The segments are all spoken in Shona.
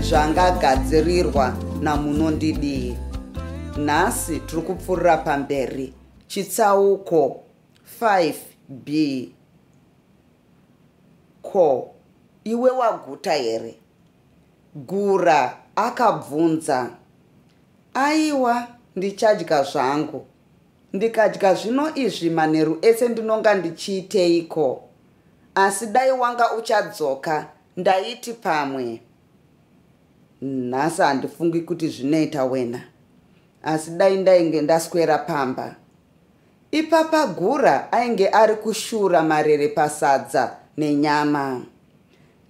zvangagadzirirwa namunondidii nhasi tiri kupfuurira pamberi chitsauko 5b ko iwe waguta here gura akabvunza aiwa ndichadya zvangu ndikadya zvino izvi manheru ese ndinonga ndichiiteiko asi dai wanga uchadzoka Ndaiti pamwe nhasi handifungi kuti zvinoita wena asi dai ndainge ndaswera pamba ipapa gura ainge ari kushura marere pasadza nenyama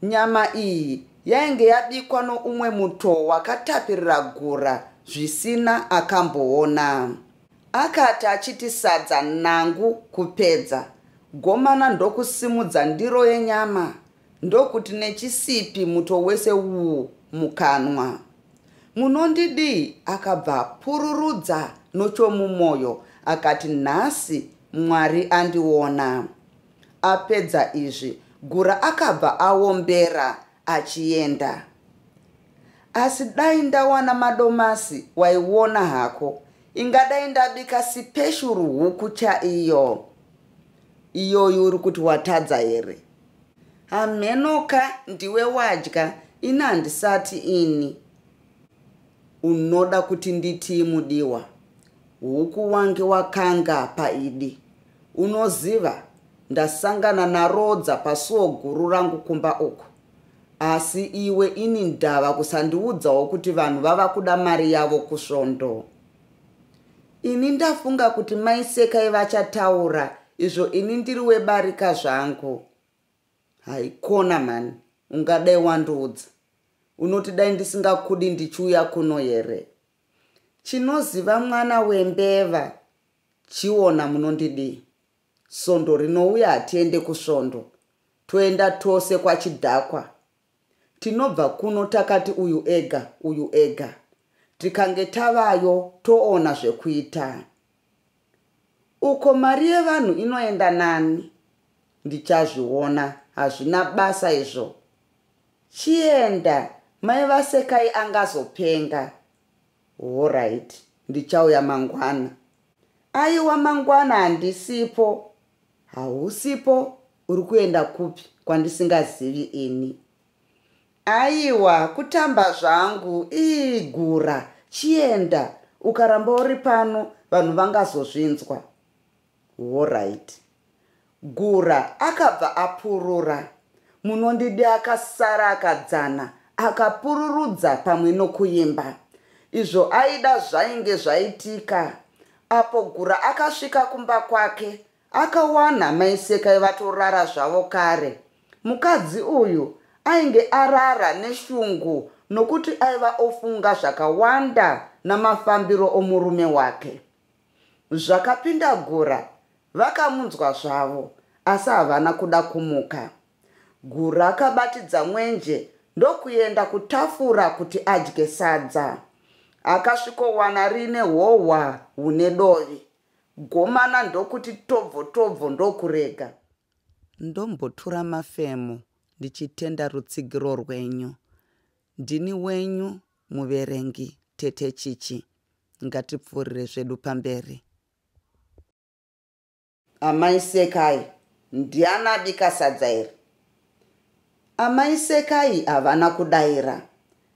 nyama iyi yainge yabikwa noumwe muto wakatapirira gura zvisina akamboona akati achiti sadza nangu kupedza gomana ndokusimudza ndiro yenyama Ndokuti nechisipi muto wese uwu mukanwa. Munondidii? Akabva apururudza nochomumoyo akati, Nhasi Mwari andiona. Apedza izvi, Gura akabva aombera achienda. Asi dai ndawana madomasi waiona hako. Ingadai ndabika sipeshuru huku chaiyo. Iyoyi uri kuti watadza here? hamhenoka ndiwe wadya ini handisati ini unoda kuti nditii mudiwa huku wange wakanga paidi unoziva ndasangana narodza pasuo guru rangu kumba uku asi iwe ini ndava kusandiudzawo kuti vanhu vava kuda mari yavo kusvondo ini ndafunga kuti mai sekai vachataura izvo ini ndiri webarika zvangu haikona mhani ungadai wandiudza unoti dai ndisingakudi ndichiuya kuno here chinoziva mwana wembeva chiona munondidii svondo rinouya hatiende kusvondo toenda tose kwachidhakwa Tinobva kuno takati uyu ega, uyu ega. Tikange tavayo toona zvekuita. Uko mari yevanhu inoenda nani? Ndichazviona, hazvina basa izvo. Chienda, mai vaSekai angazopenga. Horaiti, ndichauya mangwana. Aiwa mangwana handisipo. Hausipo? Uri kuenda kupi kwandisingazivi ini? Aiwa, kutamba zvangu. Ii gura, chienda. Ukaramba uri pano vanhu vangazozvinzwa. Horait. Gura akabva apurura. Munondidi akasara akadzana akapururudza pamwe nokuimba. Izvo aida zvainge zvaitika. Apo Gura akasvika kumba kwake, Akawana mai Sekai vatorara zvavo kare. Mukadzi uyu ainge arara neshungu nokuti aiva ofunga zvakawanda namafambiro omurume wake. Zvakapinda Gura vakamunzwa zvavo asi havana kuda kumuka. Gura akabatidza mwenje ndokuenda kutafura kuti adye sadza. Akasvikowana riine hohwa hune dovi. Gomana ndokuti tobvo tobvo ndokurega. Ndombotura mafemo ndichitenda rutsigiro rwenyu. Ndini wenyu muverengi Tete Chichi. Ngatipfuurire zvedu pamberi. Amai Sekai, ndiani abika sadza iri? Amai Sekai havana kudaira.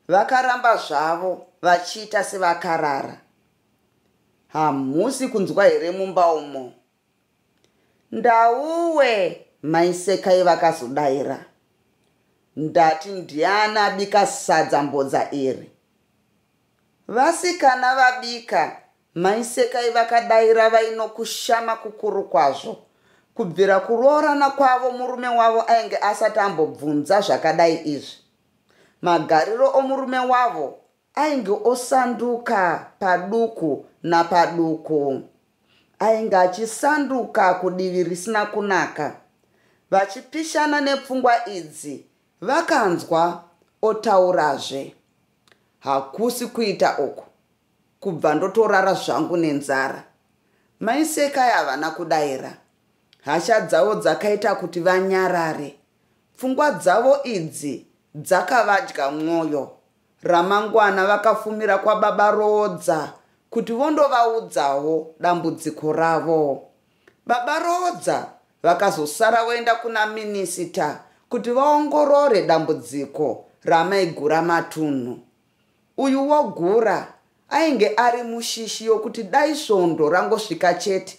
Vakaramba zvavo vachiita sevakarara. hamusi kunzwa here mumba umo ndauwe maisekai vakazodaira ndati ndiani abika sadza mbodza iri vasikana vabika maisekai vakadaira vainokushama kukuru kwazvo kubvira kuroorana kwavo murume wavo ainge asati ambobvunza zvakadai izvi magariro omurume wavo Ainge osanduka paduku napaduku. Ainge achisanduka kudivi risina kunaka. Vachipishana nepfungwa idzi, vakanzwa otaurazve. Hakusi kuita uku, kubva ndotorara zvangu nenzara. Mai Sekai havana kudaira. Hasha dzavo dzakaita kuti vanyarare. Pfungwa dzavo idzi dzakavadya mwoyo. Ramangwana vakafumira kwababa Roodza kuti vondovaudzawo dambudziko ravo. Baba Roodza vakazosara voenda kuna minisita kuti vaongorore dambudziko ramaigura matunhu. Uyu wogura ainge ari mushishi yokuti dai svondo rangosvika chete